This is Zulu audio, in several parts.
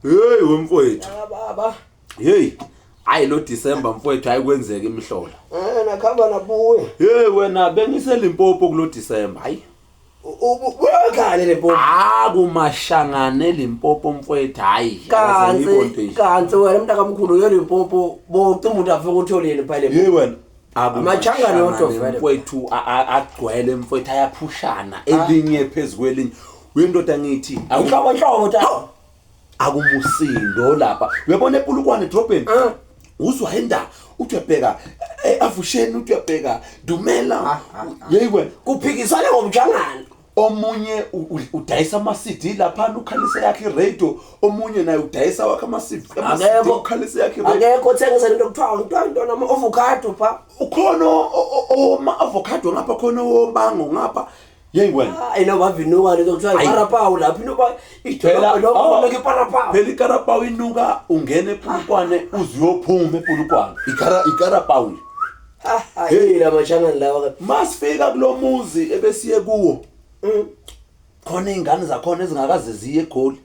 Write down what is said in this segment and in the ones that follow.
Hey wemfowethu. Ah baba. Hey. Hayi lo December mfowethu ayikwenzeki imihlola. Eh nakhamba nabuye. Hey wena bengise Limpopo kulo December. Hayi. Uyakhale Limpopo. Ah kumashangane Limpopo mfowethu hayi. Kanti kanti wena mntakamkhulu uye Limpopo bocimba umuntu afike utholeni phela. Hey wena. amachangane odwa mfowethu agcwele mfowethu ayaphushana elinye phezukwelinye wendoda ngithi awuhloko nhloko tata akumusindo lapha uyabona epulukwane edrobheni ah. uzwa indaba uthi uyabheka eh, avusheni uthi uyabheka dumela ah, ah, yeyi wena kuphikisana ngomjangana omunye udayisa ama-cd laphana ukhalise yakhe iradio omunye naye udayisa wakhe ama-cdukhalise yakhe akekho othengisa lento kuthiwa kuthiwa ntona ama-ovocado pha ukhona owoma-avocado ngapha khona owobango ngapha Yey wena. Hayi no bavinuka lento kuthiwa Ayi. iParapawu lapho inuka Phela, idolobha oh, lokho iParapawu. phela ikarapawu inuka ungena epulukwane uze uyophuma epulukwane Ikara- ikarapawu nje Ha hayi la mashangani lawa ka. masifika kulo muzi ebesiye kuwo Mm. khona iy'ngane zakhona ezingakaze ziye egoli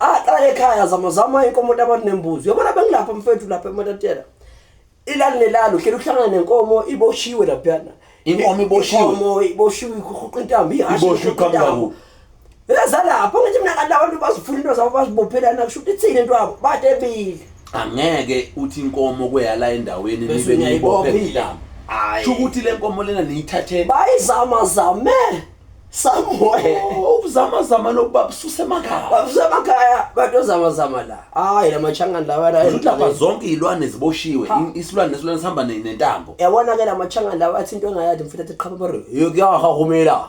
aqala ekhaya zama zama inkomo abantu nembuzi yabona bengilapha mfethu lapha ematatela ilali nelalo hleli uhlangana nenkomo iboshiwe laphana inkomo iboshiwe inkomo iboshiwe ikhuqa intambo ihashi iboshiwe kambaku ezalapho ngithi mina kanti abantu bazifuna into zabo bazibophelana kusho ukuthi ithini into yabo batebile angeke uthi inkomo kweyala endaweni nibe niyibophe intambo sho ukuthi le nkomo lena niyithatheni bayizama zame somewhere ubuzamazama nokuba bususe emakhaya babuse emakhaya bantu ozamazama la hayi la machangani lawa la Ukuthi lapha zonke izilwane ziboshiwe Ha. i- isilwane nesilwane sihamba ne- nentambo yabona ke la machangani lawa athi into engayadi mfethu athi qhaba bare yokuyahahumela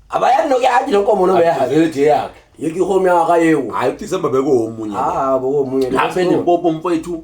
abayani nokuyadi lenkomo noma yahabi Avelete yakhe yekihome yaka yewu hayi uDecember bekuwomunye Ah, bo munye. lapha elimpopo mfowethu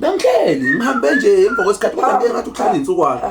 Bengihleli ngihambe nje emva kwesikhathi kodwa ngeke ngathi uhlala insukwana.